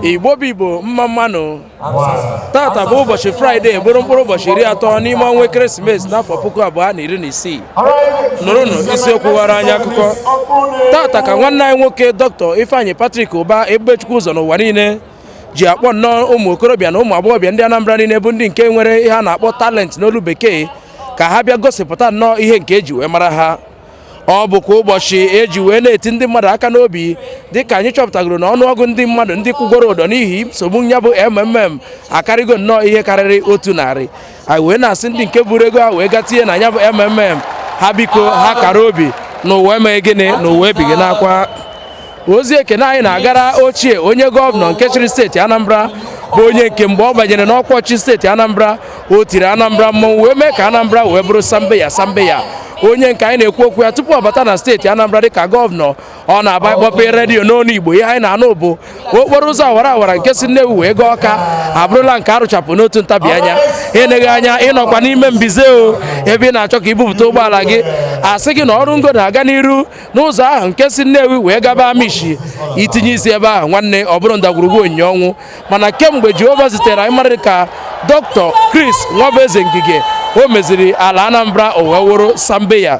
igbo bụ igbo mma mmanụ tata bụ ụbọchị fraịde bụrụ mkpụrụ ụbọchị iri atọ n'ime ọnwa ekeresimesi n'afọ puku abụọ na iri na isii nụrụnụ isiokwu ghara anyị akụkọ tata ka nwanne anyị nwoke dọkịta ifeanyị patrik ụba ebubechukwu ụzọ n'ụwa niile ji akpọ nnọọ ụmụ okorobịa na ụmụ agbọghọbịa ndị anambra niile bụ ndị nke nwere ihe a na-akpọ talent n'olu bekee ka ha bịa gosipụta nnọọ ihe nke eji wee mara ha ọ bụkwa ụbọchị eji wee na-eti ndị mmadụ aka n'obi dịka anyị chọpụtagoro na ọnụọgụ ndị mmadụ ndị kwụgoro ụdọ n'ihi nsogbu ya bụ mmm akarịgo nnọọ ihe karịrị otu narị anyị wee na-asị ndị nke buru ego ha wee ga tinye na ya bụ mmm ha biko ha kara obi na ụwa emeghị gịnị na ụwa ebighị n'akwa ozi ekene anyị na-agara ochie onye gọvanọ nke chịrị steeti Anambra bụ onye nke mgbe ọ banyere n'ọkwa ọchịchị steeti Anambra o tiri Anambra mmọnwụ wee mee ka Anambra wee bụrụ sambeya sambeya onye nke anyị na-ekwu okwu ya tupu ọ bata na steeti Anambra dịka gọvanọ ọ na-abụ ị kpọpe redio n'onu Igbo ihe anyị na-anụ bụ okporo ụzọ awara awara nke si Nnewi wee gaa Ọka abụrụla nke arụchapụ n'otu ntabi anya eneghị anya ị nọkwa n'ime mbize o ebe ị na-achọ ka i bupụta ụgbọala gị a sị gị na ọrụ ngo na-aga n'iru n'ụzọ ahụ nke si Nnewi wee gaba Amichi i tinye isi ebe ahụ nwanne ọ bụrụ ndagwurugwu onyinyo ọnwụ mana kemgbe Jehova zitere anyị mmadụ dịka Dr. Chris Nwabueze Ngige o meziri ala Anambra o wee wụrụ Sambeya